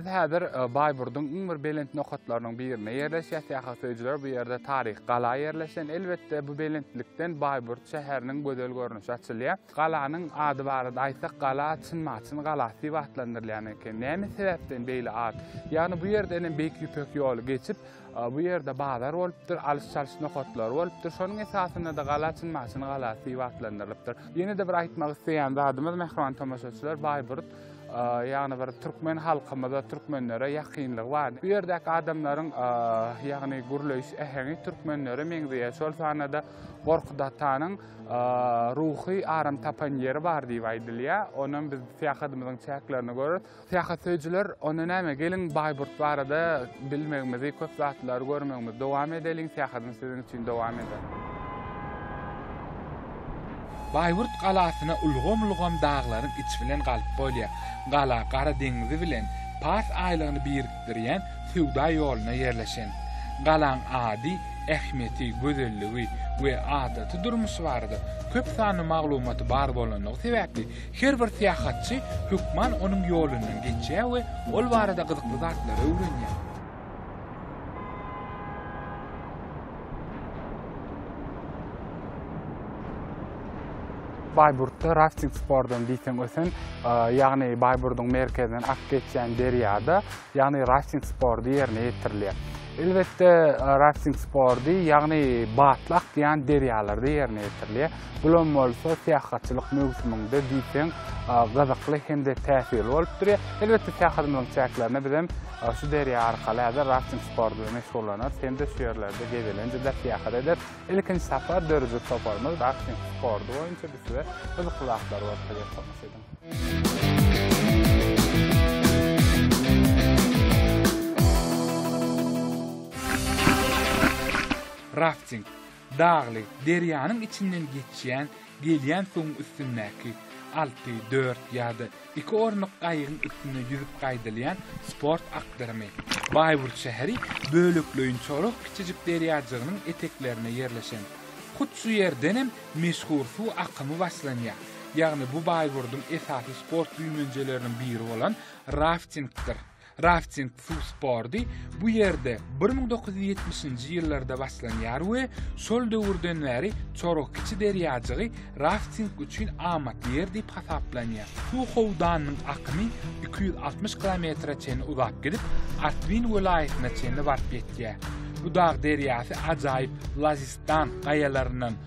Biz häzir e, Baýburduň iň bir belent nokatlarynyň birinde ýerleşýär. Syýahat söýüjiler bu ýerde taryhy gala ýerleşen. Elbetde bu belentlikden Baýburt şäheriniň gözel görnüşi açylýar. Galanyň ady barada aýtsak, gala Çyn-Maçyn galasy diýip atlandyrylýan eken. Näme sebäpden beýle at? Ýagny bu ýerden hem Beýik Ýüpek ýoly geçip, bu ýerde bazar bolupdyr, alyş-çalyş nokatlary bolupdyr. Şonuň esasynda-da gala Çyn-Maçyn galasy diýip atlandyrylypdyr. Ýene-de bir aýtmak isleýän zadymyz, mähriban tomaşaçylar, Baýburt, ýagny bir türkmen halkymyza, türkmenlere ýakynlygy bar. Bu ýerdäki adamlaryň, ýagny gürleýiş äheňi türkmenlere meňzeýär. Şol sanda-da Gorkut atanyň. ruhy aram tapan ýeri bar diýip aýdylýar. Onam biz syýahatymyzyň çäklerini görüp, syýahat söýüjiler onda näme geliň Baýburt barada bilmegimizi, köp zatlary görmegimizi dowam edeliň, syýahatymyz siziň üçin dowam eder. Baýburt galasyna ulgam-ulgam daglaryň içi bilen galyp bolýar. Gala Gara deňzi bilen Pars aýlagyny bir Birikdirýän söwda ýoluna ýerleşen. Galaň ady, ähmiýeti, gözelligi we adaty durmuşy barada köp sanly maglumaty bar bolanlygy sebäpli, her bir syýahatçy hökman onuň ýolundan geçýär we ol barada gyzykly zatlary öwrenýär. Baýburtda rafting sportdan diýseň ösen, ýagny Baýburduň merkezinden ak geçýän derýada, ýagny rafting sporty ýerine ýetirilýär. Elbetde, rafting sporty, ýagny batly akýan derýalarda ýerine ýetirilýär. Bulam bolsa syýahatçylyk möwsüminde diýseň gyzykly hem-de täsirli bolup durýar. Elbetde, syýahatymyzyň çäklerinde bizem Şu derýa arkaly häzir rafting sporty bilen meşgullanarys hem-de şu ýerlerde gezelenjede syýahat ederis. Ilkinji sapar döredijilik toparymyz rafting sporty boýunça biz size gyzykly zatlary görkezýär, tomaşa ediň! Rafting, Dagly, derýanyň içinden geçýän, gelýän suwuň üstündäki, alty, dört ýa-da iki orunlyk gaýygyň üstünde ýüzüp gaýdylýan sport akdyrymy. Baýburt şäheri bölekleýin çoluk kiçijik derýajygynyň eteklerinde ýerleşen. Hut şu ýerdenem meşhur suw akymy başlanýar. Ýagny bu Baýburdyň esasy sport güýmenjeleriniň biri bolan raftingdir. Rafting suw sporty bu ýerde bir müň dokuz ýüz ýetmişinji ýyllarda başlanýar we şol döwürden bäri Çoruk kiçi derýajygy rafting üçin amatly ýer diýip hasaplanýar. Suw howdanynyň akymy iki ýüz altmyş kilometre çenli uzap gidip, Artwin welaýatyna çenli baryp ýetýär. Bu dag derýasy ajaýyp Lazistan gaýalaryndan,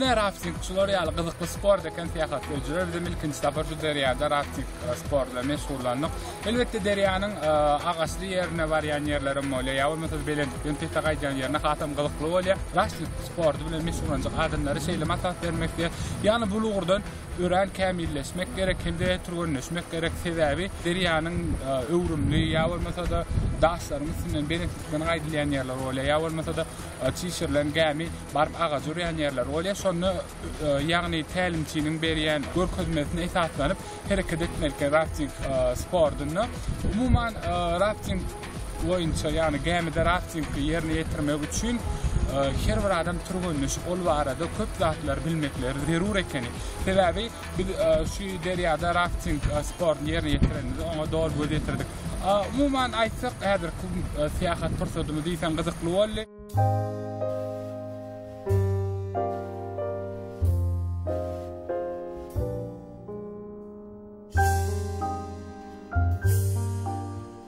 Ine rafting şular ýaly gyzykly sport eken syýahat öjüler bize ilkinji sapar şu derýada rafting e, sporty bilen meşgullandyk. Elbetde derýanyň e, agaçly ýerine barýan ýerlerim bolýar. Ýa bolmasa belentlikden pete gaýdýan ýerine hasam gyzykly bolýar. Rafting sporty bilen meşgullanjak adamlara şeýle maslahat bermekde, ýagny bu ugurdan Örän kämilleşmek gerek hem-de türgenleşmek gerek. Sebäbi derýanyň öwrümli ýa bolmasa-da daşlaryň üstünden belentlikden gaýdylýan ýerler bolýar. Ýa bolmasa-da çişirilen gämi baryp agaja urýan ýerler bolýar. Şonda ýagny tälimçiniň berýän görkezmesine esaslanyp hereket etmelikä rafting sportunda. Umuman rafting boýunça, ýagny gämide raftingi ýerine ýetirmek üçin her bir adam türgenleşip, ol barada köp zatlary bilmekleri zerur ekeni. Sebäbi biz e, şu derýada rafting e, sportuny ýerine ýetirenimizde oňa doly göz ýetirdik. E, umuman aýtsak, häzirki syýahat pursatymyz diýseň gyzykly boldy.